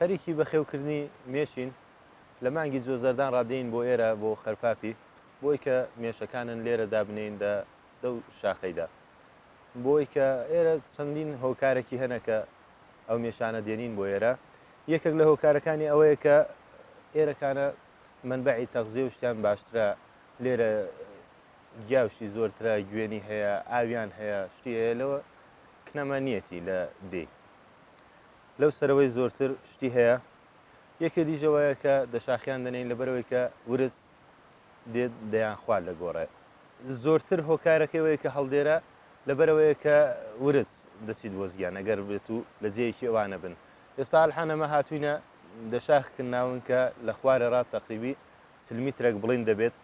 خەریکی بەخێوکردنی مێشین لە مانگی جۆزەردان ڕادێین بۆ ئێرە بۆ خەرپاپی بۆی کە مێشەکانن لێرە دابنین دە دەو شاخەیدا بۆی کە ئێرە چەندین هۆکارێکی هەنە کە ئەو مێشانە دێنین بۆ ئێرە یەکێک لە هۆکارەکانی ئەوەیە کە ئێرەکانە منبعی تەغزیێ شتیان باشترە لێرە گیا و شتی زۆر ترا گوێنی هەیە ئاویان هەیە شتی هەیە لەوە کنەمە نیەتی لە دێ لەو سەرەوەی زۆرتر شتی هەیە یەکێ دیژەوەیە کە دەشاخیان دەنین لە بەرەوەی کە ورز دێت دەیان خوارد لە گۆڕێ زۆرتر هۆکارەکەوەیە کە هەڵدێرە لە بەرەوەیە کە ورز دەچیت بۆ زیان ئەگەر بێت و لە جێیەکی ئەوانە بن ئێستا الحانەمە هاتوینە دەشاخکن ناون کە لە خوارە ڕات تەقریبی سلمیترەک بڵین دەبێت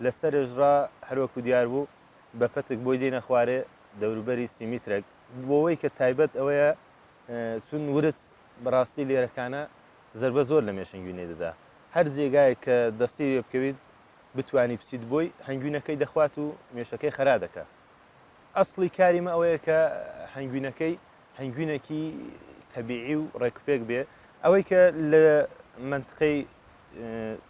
لە سەرێژ ڕا هەر وەکوو دیار بوو بە پەتک بۆی دێنە خوارێ دەوروبەری سی میترەک بۆوەی کە تایبەت ئەوەیە چون ورچ بە ڕاستی لێرەکانە زەربە زۆر لە مێشەنگوینەی دەدا هەر جێگایەک کە دەستی لێ بکەویت بتوانی بچیت بۆی هەنگوینەکەی دەخوات و مێشەکەی خەرا دەکا ئەسڵی کاری مە ئەوەیە کە هەنگوینەکەی هەنگوینەکی تەبیعی و ڕێکوپێک بێ ئەوەی کە لە منتقەی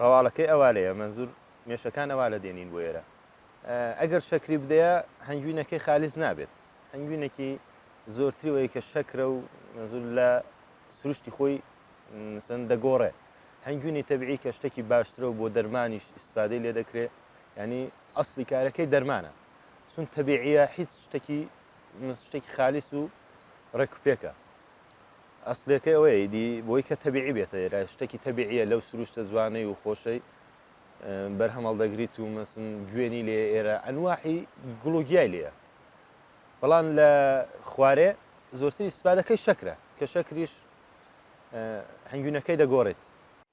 ڕەواڵەکەی ئەوالەیە مەنزور مێشەکان ئەوالە دێنین بۆ ئێرە ئەگەر شەکری بدەیە هەنگوینەکەی خالیس نابێت هەنگوینەکی زۆرتری وەی کە شەکرە و مەنزور لە سروشتی خۆی سن دەگۆڕێ هەنگوینی تەبعی کە شتێکی باشترە و بۆ دەرمانیش ئیسفادەی لێ دەکرێ ینی ئەسلی کارەکەی دەرمانە سون تەبیعە هیچ شتێکی شتێکی خالیس و ڕێکوپێکە ئەسڵیەکەی ئەوەیە ئیدی بۆی کە تەبیعی بێتە ئێرە شتێکی تەبیعیە لەو سروشتە جوانەی و خۆشەی بەرهەم هەڵدەگریت و مەسن گوێنی لێ ئێرە ئەنواحی گوڵ و گیای لێە بەڵام لە خوارێ زۆرتری سپادەکەی شەکرە کە شەکریش هەنگوینەکەی دەگۆڕێت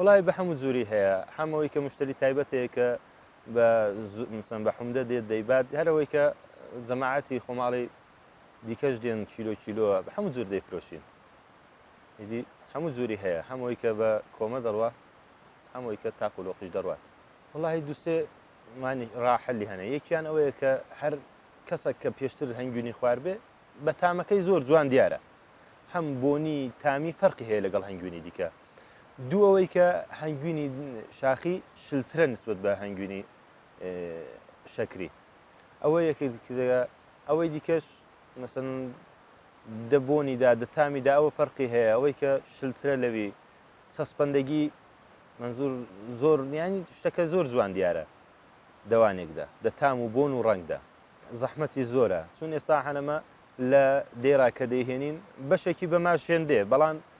وەڵای بە حەموو جوری هەیە حەم ئەوەی کە مشتەری تایبەت هەیە کە بە زو مەسەن بە حومدە دێت دەیبات هەر ئەوەی کە جەماعەتی خۆماڵی دیکەش دێن کیلۆ کیلۆ بە حەموو جور دەیفرۆشین ئیدی حەموو جوری هەیە هەم ئەوەی کە بە کۆمە دەڕوا هەم ئەوەی کە تاق و لۆقیش دەڕوات وەڵاهی دوو سێ مانی ڕا حەلی هەنە یەکیان ئەوەیە کە هەر کەسەک کە پێشتر هەنگوینی خوار بێ بە تامەکەی زۆر جوان دیارە هەم بۆنی تامی فەرقی هەیە لەگەڵ هەنگوینی دیکە دوو ئەوەی کە هەنگوینی شاخی شلترە نسبت بە هەنگوینی شەکری ئەوە یەکێک دیکە ئەوەی دیکەش مەسن دەبوونیدا دەتامیدا ئەوە فەرقی هەیە ئەوەی کە شلترە لەوی سەسپەندەگی منزور زۆر نیانی شتەکە زۆر جوان دیارە دەوانێکدا دەتام و بۆن و ڕەنگدا زەحمەتی زۆرە چون ئێستا هەنەمە لە دێرا کە دەیهێنین بەشێکی بەماش هێندێ بەڵام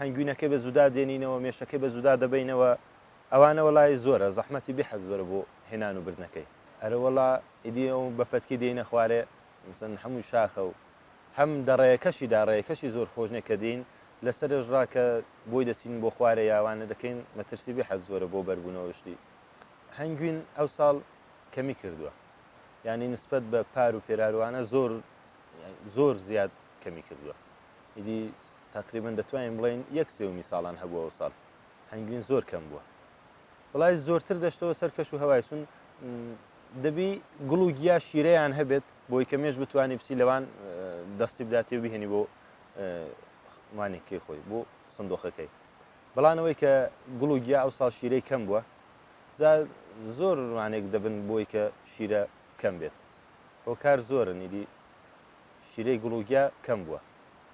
هەنگوینەکەی بە زودا دێنینەوە مێشەکەی بە زودا دەبەینەوە ئەوانە وەڵای زۆرە زەحمەتی بحت زۆرە بۆ هێنان و بردنەکەی. ئەرەوەڵا ئیدی ئەو بە پەتکی دێینە خوارێ مەسەن هەمووی شاخە و هەم دە ڕێیەکەشی دا ڕێیەکەشی زۆر خۆش نیە کە دێین لە سەرێش ڕا کە بۆی دەچین بۆ خوارێ یا ئەوانە دەکەین مەترسی بحت زۆرە بۆ بەربوونەوە شتی هەنگوین ئەو ساڵ کەمی کردووە یانی نسبەت بە پار و پێرار و ئەوانە زۆر زۆر زیاد کەمی کردووە ئیدی تەقریبەن دەتوانین بڵێین یەک سێومی ساڵان هەبوو ئەوساڵ هەنگوین زۆر کەم بووە بەڵای زۆرتر دەشتەوە سەر کەش و هەوای سون دەبی گوڵ و گیا شیرەیان هەبێت بۆی کە مێش بتوانانی بچی لەوان دەستی بداتی و بهێنی بۆ مانێکی خۆی بۆ سندۆخەکەی بەڵانەوەی کە گوڵ و گیا ئەو ساڵ شیرەی کەم بووە زۆر ڕوانێک دەبن بۆی کە شیرە کەم بێت هۆکار زۆرن ئیدی شیرەی گوڵ و گیا کەم بووە